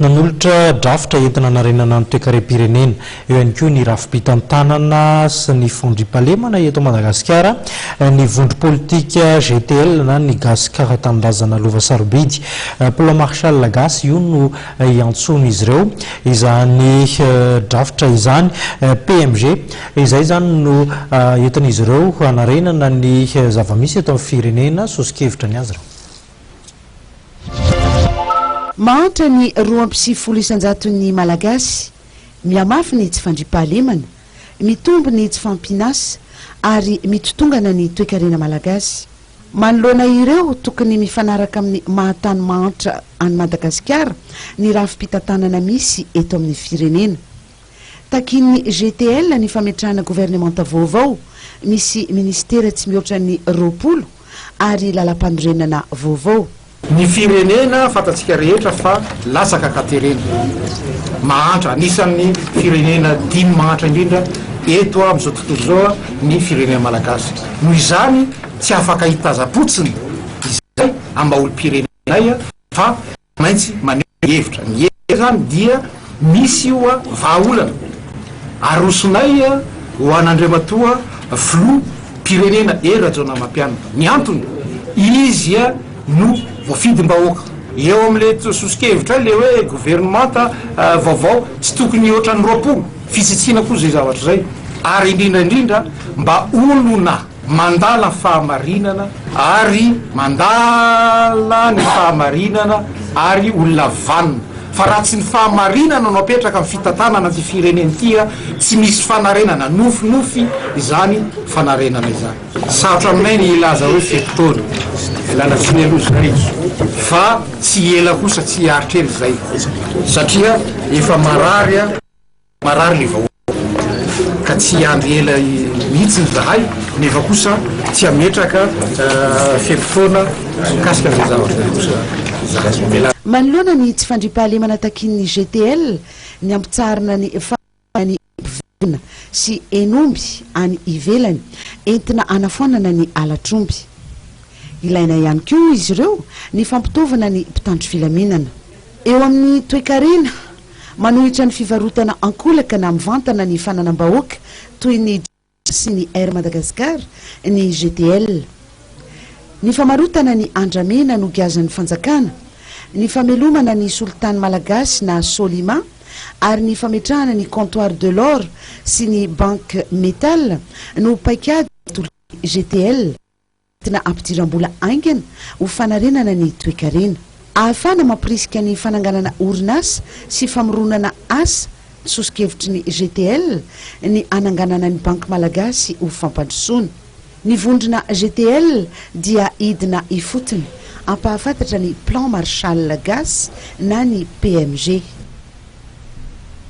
Nanolotra drafitra entina-hanarenana ny toekarem-pirenena. Eo ihany koa ny rafi-pitantanana sy ny fandriampahalemana eto Madagasikara, ny vondrom-politika GTL na ny Gasikara Tanindrazana Lova Sarobidy. Plan Marshall gasy io no iantsoan'izy ireo izany drafitra izany, PMG. Izay izany no entin'izy ireo hanarenana ny zava-misy eto amin'ny firenena, soso-kevitra ny azy ireo. Mahantra ny roa amby sivifolo isan-jaton'ny Malagasy, mihamafy ny tsy fandriampahalemana, mitombo ny tsy fahampian'asa ary mitotongana ny toekarena malagasy. Manoloana ireo tokony mifanaraka amin'ny maha-tany mahantra an'i Madagasikara ny rafi-pitantanana misy eto amin'ny firenena. Takian'ny GTL ny fametrahana governemanta vaovao misy minisitera tsy mihoatra ny roapolo ary lalampanorenana vaovao. Ny firenena fantatsika rehetra fa latsaka ka terena mahantra, anisan'ny firenena dimy mahantra indrindra eto amin'izao tontolo izao ny firenena malagasy. Noho izany tsy afaka hitazam-potsiny izay ambaolom-pirenenay fa. maintsy maneho hevitra. Ny hevitra izany dia misy io vahaolana arosonay ho an'Andriamatoa Filoha mpirenena Hery Rajaonarimampianina. Ny antony, izy no voafidim-bahoaka. Eo amin'ilay soso-kevitra ilay hoe governemanta vaovao tsy tokony hoatran'ny roapolo. Fisitsiana koa izay zavatra izay. Ary indrindra indrindra mba olona. Mandala fahamarinana ary mandala ny fahamarinana ary olona vanona fa raha tsy ny fahamarinana no apetraka amin'ny fitantanana ity firenena ity a, tsy misy fanarenana, nofinofy izany fanarenana izany. Sarotra aminay ny hilaza hoe fito taona, lana tsiny aloha izay fa tsy ela kosa tsy hiaritra ela izay satria efa marary a. Marary ny vahoaka ka tsy hiandry ela mihitsy izahay nefa kosa tsy hametraka fe-potoana mikasika an'izay zavatra izay kosa. Manoloana ny tsy fandriampahalemana takian'ny GTL, ny hampitsaharana ny fahasalamana ny mpivelona sy hen'omby any ivelany entina hanafoanana ny halatr'omby. Ilaina ihany koa hoy izy ireo ny fampitaovana ny mpitandro filaminana. Eo amin'ny toekarena, manohitra ny fivarotana ankolaka na mivantana ny fananam-bahoaka toy ny Jazz sy ny Air Madagascar ny GTL. Ny famarotana ny andramena nogiazan'ny fanjakana, ny famelomana ny solitany malagasy na Solima ary ny fametrahana ny Comptoir de l'Or sy ny Banque Metal no paikady natolotr'i GTL. Entina hampidiram-bola haingana ho fanarenana ny toekarena. Ahafahana mampirisika ny fananganana orinasa sy famoronana asa, soso-kevitry ny GTL ny hananganana ny Banky Malagasy ho fampandrosoana. Ny vondrona GTL dia hidina ifotony hampahafantatra ny Plan Marshall Gasy na ny PMG.